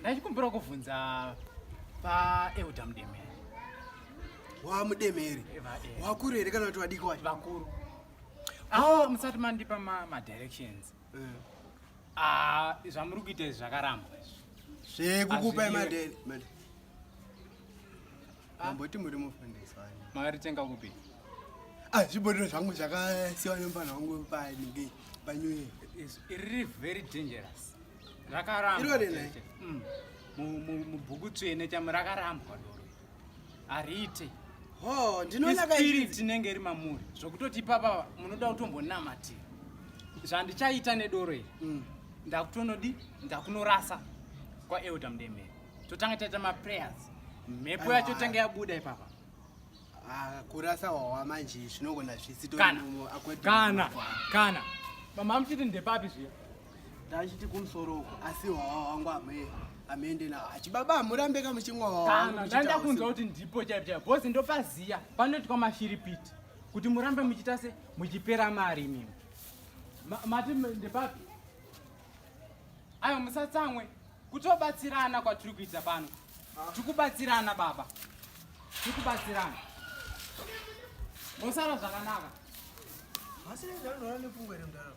ndachikumbira kuvhunza paeuda mudemeri wa mudemeri wakuru here kana kuti vadiki wacho vakuru awo musati mandipa madirections eh. ah, zvamuri kuita izvi zvakarambwa izvi zvekukupai madere mamboti muri mufundiswa makaritenga kupi ah, zvibhodero zvangu zvakasiwa nemupana wangu paninge panyuye iri very dangerous rakarambwa mm. mubhuku tsvene chamo rakarambwa doro hariite spirit tinenge iri mamuri zvokutoti ipapa munoda kutombonamatira zvandichaita nedoro iri mm. ndakutonodi ndakunorasa kwaelder mdemere totanga taita maprayers mhepo yacho ah. tanga yabuda ipapa ah, kurasa wawa manje zvinogona zvisitokana kana kana mama muchiti ndepapi zviya ndachiti kumusoro uko asi hwawa wangu amee amende na achibaba amurambe ka muchimwa wawa ndanda kunzwa kuti ndipo chaipo chaipo bozi ndopaziya panoti kwa mashiripiti kuti murambe muchita se muchipera mari imimi mati ndepapi ayo musatsamwe kutobatsirana kwatiri kuita pano ah. tikubatsirana baba tikubatsirana mosara zvakanaka masirezanonoa nepfungwa remdaro